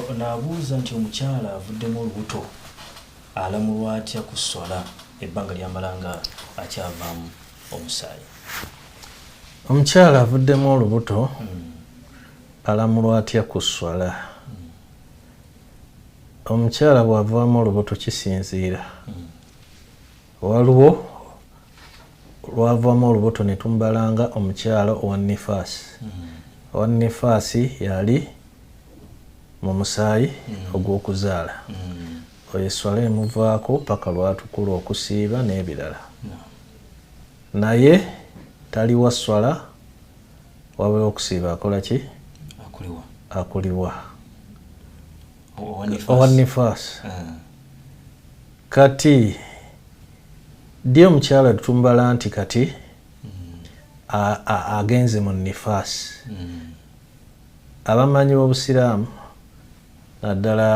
Ono abuuza nti omukyala avuddemu olubuto alamulwa atya ku sswala ebbanga lyamala nga akyavaamu omusaayi? Omukyala avuddemu olubuto hmm. alamulwa atya ku sswala? Hmm. Omukyala bw'avaamu olubuto kisinziira. Hmm. Waliwo lwavamu olubuto ne tumbalanga omukyala owa nifaasi mm-hmm. owa nifaasi yali mu musaayi mm-hmm. ogw'okuzaala mm-hmm. oyo esswala emuvaako paka lwatukula okusiiba n'ebirala naye taliwa sswala wabula okusiiba akola ki akuliwa owa nifaasi ah. Kati ddi omukyala tumbala nti kati agenze mu nifaasi abamanyi b'obusiraamu naddala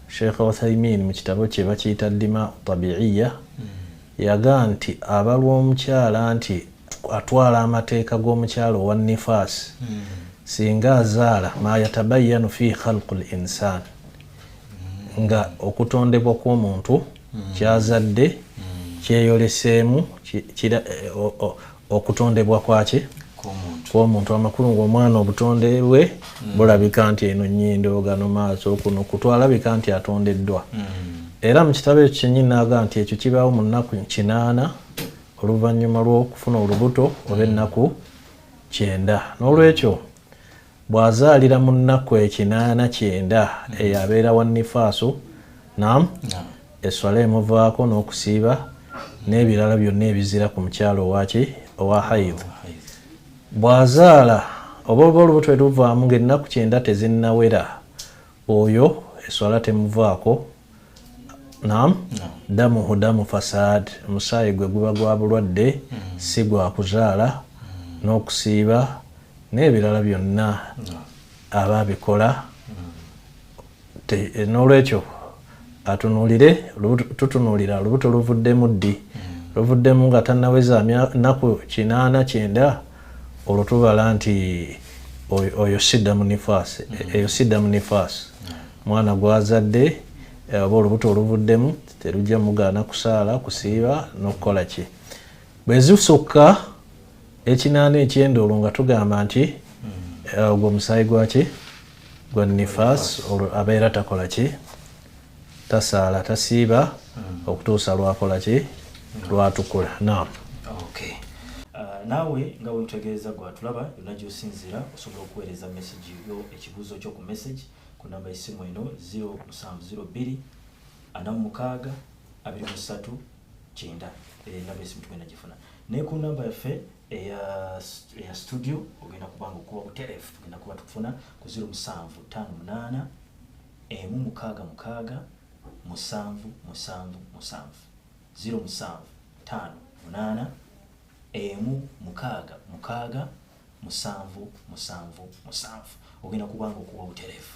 sheikh uthaimin mu kitabo kye bakiyita dima tabiiya yaga nti abalwa omukyala nti atwala amateeka g'omukyala owa nifaasi singa azaala mayatabayanu fi khalqu l insaani nga okutondebwa kw'omuntu mm. kyazadde mm. kyeyoleseemu okutondebwa kwaki kwomuntu amakulu ngaomwana obutonde bwe mm. bulabika nti eno nyindo gano maaso kuno kutwalabika nti atondeddwa era mu kitabo ekyo kyenyini naaga nti ekyo kibaawo mu nnaku kinaana oluvannyuma lw'okufuna olubuto oba ennaku kyenda n'olwekyo Bw'azaalira mu nnaku ekinaana kyenda eyo abeera wa nifaasu, naam, esswala emuvaako n'okusiiba n'ebirala byonna ebizira ku mukyala owaki owa haidh. Bw'azaala oba oba olubuto luvaamu ng'ennaku kyenda tezinnawera, oyo esswala temuvaako. nam damuhu damu fasad omusaayi gwe guba gwa bulwadde mm. si gwa kuzaala mm. n'okusiiba n'ebirala byonna aba abikola mm. n'olwekyo atunuulire tutunuulira olubuto luvuddemu ddi luvuddemu nga tanaweza naku kinaana kyenda olwo tubala nti oyo sidda mu nifaasi eyo sidda mu nifaasi Mwana gw'azadde eh, oba olubuto oluvuddemu terujja mugaana kusaala kusiiba n'okukola ki bwe zisukka ekinaana ekyendoolo nga tugamba nti eh, ogwo musaayi gwaki gwa nifaas olwo abeera takola ki tasaala tasiiba hmm. okutuusa lwakola ki hmm. lwatukula naam naawe nga wetutegeeza gwatulaba yonna gyosinziira osobola okuweereza message yo ekibuuzo kyo ku message ku namba y'essimu eno 0702 46 23 kyenda eyo enamba y'essimu tugenda gifuna naye ku namba yaffe eya studio ogenda kuba nga okuba butereefu tugenda kuba tukufuna ku 0758 emu mukaaga mukaaga musanvu musanvu musanvu 0758 emu mukaaga mukaaga musanvu musanvu musanvu ogenda kubanga okuba obutereevu.